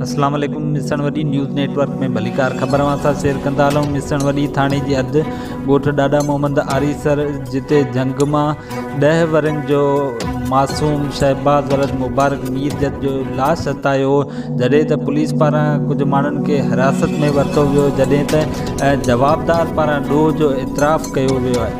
اسلام عليڪم مصڻ وڏي نيوز نيٽ ورڪ ۾ ڀليڪار خبر اوهان سان شيئر ڪندا هلون مصڻ وڏي ٿاڻي جي حد ڳوٺ ڏاڏا محمد آريسر جتي جهنگ مان ڏهه ورهين جو معصوم شهباز ولد مبارڪ مير جت جو لاش هٿايو هو جڏهن ته پوليس پاران ڪجهه ماڻهن کي حراست ۾ ورتو ويو جڏهن ته جوابدار پاران ڏوهه جو اعتراف ڪيو ويو آهي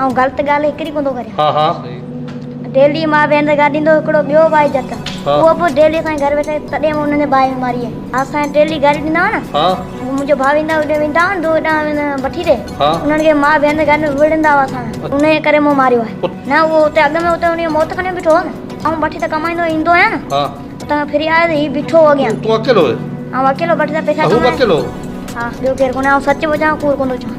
آئون غلط ڳالهه هڪڙي ڪوندو ڪريان. ڊيلي مان ويندي گاڏي ايندو هڪڙو ٻيو ڀائي جت اهو به ڊيلي اسان جي گهر ويٺو آهي تڏهن مون انهن ڀائي ماري آهي اسان ڊيلي گاڏي ڏيندا هئا نه منهنجو ڀاء ويندا هئا ويندا هئا نه هوڏانهن وٺي ڏي انهن کي مان ويندي گاڏي ۾ وڙهندا هئا اسان انهيء ڪري مون ماريو آهي نه اهو اتي اڳ ۾ اتي انهيء موت کڻي بيٺو هو نه آئون بٺي تان ڪمائيندو ايندو آهيان نه اتان کان ڦري آيس هي بيٺو هو اڳيان تون اڪيلو هين آئون اڪيلو بٺي تان پئسا ڪمائيندو اهو به اڪيلو هو ها ٻيو ڪير ڪونهي آئون سچ پيو چوان ڪوڙ ڪوندو چوان.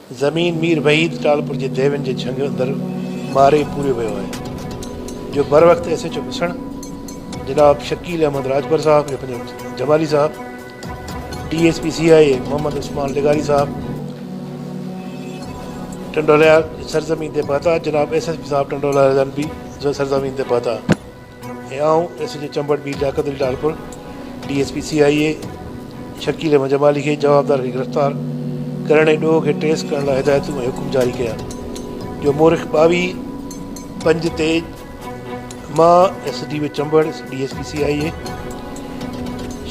زمين مير وحيد ٽالپر جي ديوين جي جهنگ اندر مارئي پوريو ويو آهي جو بروقت ايس ايچ او ڀسڻ جناب شڪيل احمد راڄپر صاحب جو پنهنجو جمالي صاحب D S P C I A Muhammad Usman لغاري صاحب ٽنڊوليار سرزمين تي پهتا جناب ايس ايس پي صاحب ٽنڊوليار جن به سرزمين تي پهتا اي آئون ايس ايڇ او چمبڙ بي Liaquat Ali Talpur D S P C I A Shakeel Ahmed Jamali کي جوابدار کي گرفتار ڪرڻ ۽ ڏوهه کي ٽريس ڪرڻ لاء هدايتون ۽ حڪم جاري ڪيا جو مورخ ٻاويهه پنج تي مان S D O Chambar D S P C I A